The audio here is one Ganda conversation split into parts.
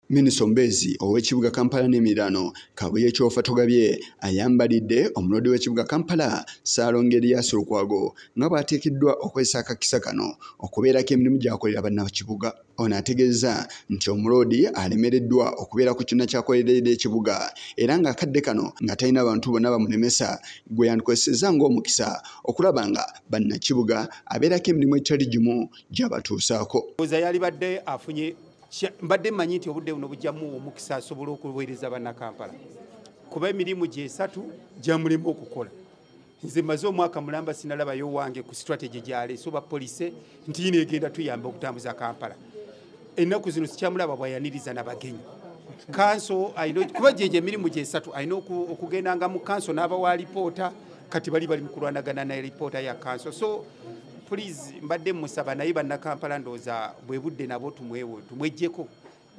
Minisita omubeezi ow'ekibuga Kampala n'emiriraano Kabuye Kyofa Togabye ayambalidde omuloodi w'ekibuga Kampala Ssaalongo Erias Lukwago nga bw'ateekeddwa okozesa akakisa kano okubeerako emirimu gy'akolera bannakibuga. Ono ategeezza nti omuloodi alemereddwa okubeera ku kyonna ky'akoleredde ekibuga era ng'akadde kano nga talina bantu bonna bamulemesa gwe yandikozesezza ng'omukisa okulaba nga bannakibuga abeerako emirimu egitali gimu gy'abatuusaako. mbadde mmanyi nti obudde buno bujjamuwa omukisa asobole okuweereza bannakampala kuba emirimu gyesatu gyamulema okukola nze maze omwaka mulamba sinalabayo wange ku strategy gyaleese oba polise nti yino egenda tuyamba okutambuza kampala ennaku zino sikyamulaba bwayaniriza nabagenyi kanso kuba gyegyo emirimu gyesatu alina okugendanga mu kanso n'abawa lipoota kati bali bali mu kulwanagana ne lipoota ya kanso so please mbadde musaba naye bannakampala ndooza bwe budde nabo tumwewo tumwejjeko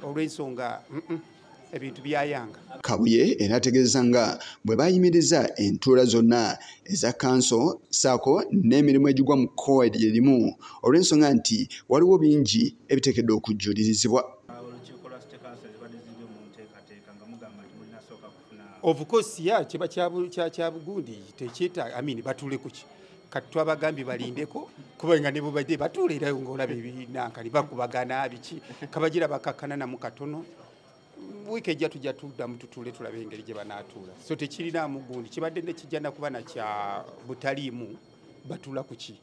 olw'ensonga ebintu byayanga kabuye era ategeeza nga bwe bayimiriza entuula zonna eza kanso saako n'emirimu egigwa mu kkowa lye limu olw'ensonga nti waliwo bingi ebiteekedde okujjulirizibwa of course ya kiba kyabugundi tekyetaaga i mean batule kuki kati twabagambye balindeko kuba nga nebubadde batuula era ngaolaba ebinankani bakubagana biki kabagira bakakana namu katono wiiki ejja tujja tuddamu tutuule tulaba engeri gye banaatuula so tekirinaamu gundi kibadde nekijja nakuba nakya butaliimu batula kuki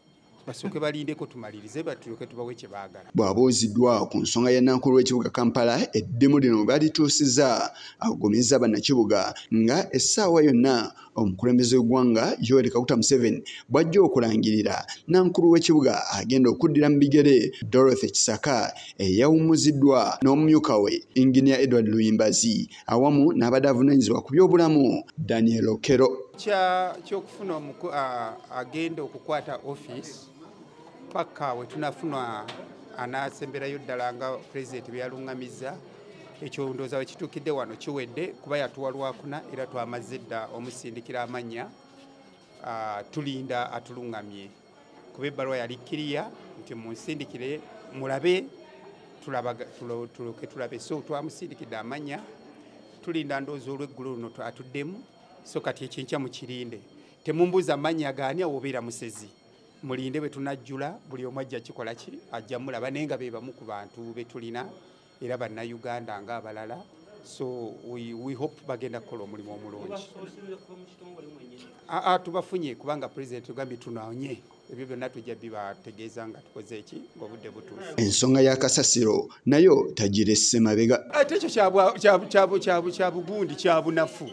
basooke balindeko tumalirize batuloke tubawe kye baagala bw'abuuziddwa ku nsonga ya nankulu w'ekibuga kampala eddimu lino balituusiza agumizza bannakibuga nga essaawa yonna omukulembeze w'eggwanga yoweri kaguta museveni bw'ajja okulangirira nankulu w'ekibuga agenda okuddira mu bigere dorothy kisaka eyawummuziddwa n'omumyuka we inginia edward luyimbazi awamu n'abadde avunaanyizibwa ku byobulamu daniel okero kyokufuna agenda okukwata office paka wetunafuna anasemberayo ddala nga pulezidenti byeyaluŋŋamizza ekyo ndowooza we kituukidde wano kiwedde kuba yatuwa lwakuna era twamazze dda omusindikira amannya tulinda atuluŋŋamye kuba ebbaluwa yali kiriya nti munsindikire mulabe tuloke tulabe so twamusindikidde amanya tulinda ndoozi olweggulo luno atuddemu so kati ekyenkya mukirinde temumbuuza manya gaani awobeera musezi mulinde bwe tunajjula buli omu ajja kikola ki ajja mulaba naye nga be bamu ku bantu be tulina era bannayuganda nga abalala so we, we hope bagenda kukola omulimu omulungi aa tubafunye kubanga president ogambye tunaonye ebyo byonna tujja bibategeeza nga tukoze eki ngaobudde butuufu ensonga ya kasasiro nayo tagiresse mabega ate ekyo kyabugundi kyabunafu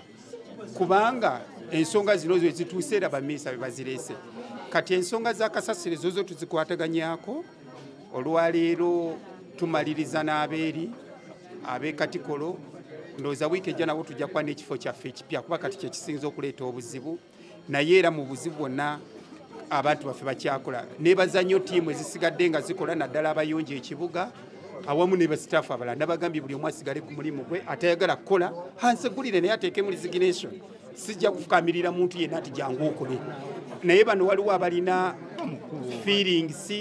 kubanga ensonga zino zo ezituuse era bamiisa bebazireese kati ensonga za kasasiro ezozo tuzikwataganyako olwaleero tumaliriza n'abeeri ab'e katikolo ndowooza wiiki ejja nabo tujja kuba n'ekifo kyaffe ekipya kuba kati kyekisinza okuleeta obuzibu naye era mu buzibu bwonna abantu baffe bakyakola nebaza nnyo tiimu ezisigadde nga zikola naddala abayonja ekibuga awamu ne basitaafu abalala nabagambye buli omu asigale ku mulimu gwe atayagala kukola hansegulire naye ateekemu resignation sijja kufukamirira muntu yenna nti jangu okole naye bano waliwo abalina feelings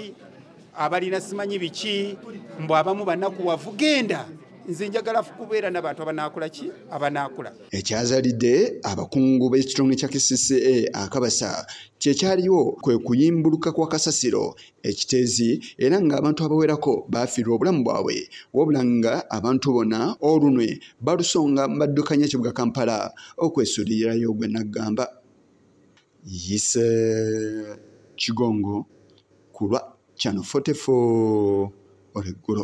abalina simanyi biki mbu abamu banaku wavugenda nze njagala kubeera nabantu abanaakula ki abanaakula ekyazalidde abakungu b'ekitone kya kcca akabasa kyekyaliwo kwe kuyimbuluka kwa kasasiro ekitezi era ng'abantu abawerako baafiirwa obulamu bwabwe wabula nga abantu bona olunwe balusonga baddukanya ekibuga kampala okwesuulirirayo gwe naggamba yise kigongo ku lwa kyano 44 olweggulo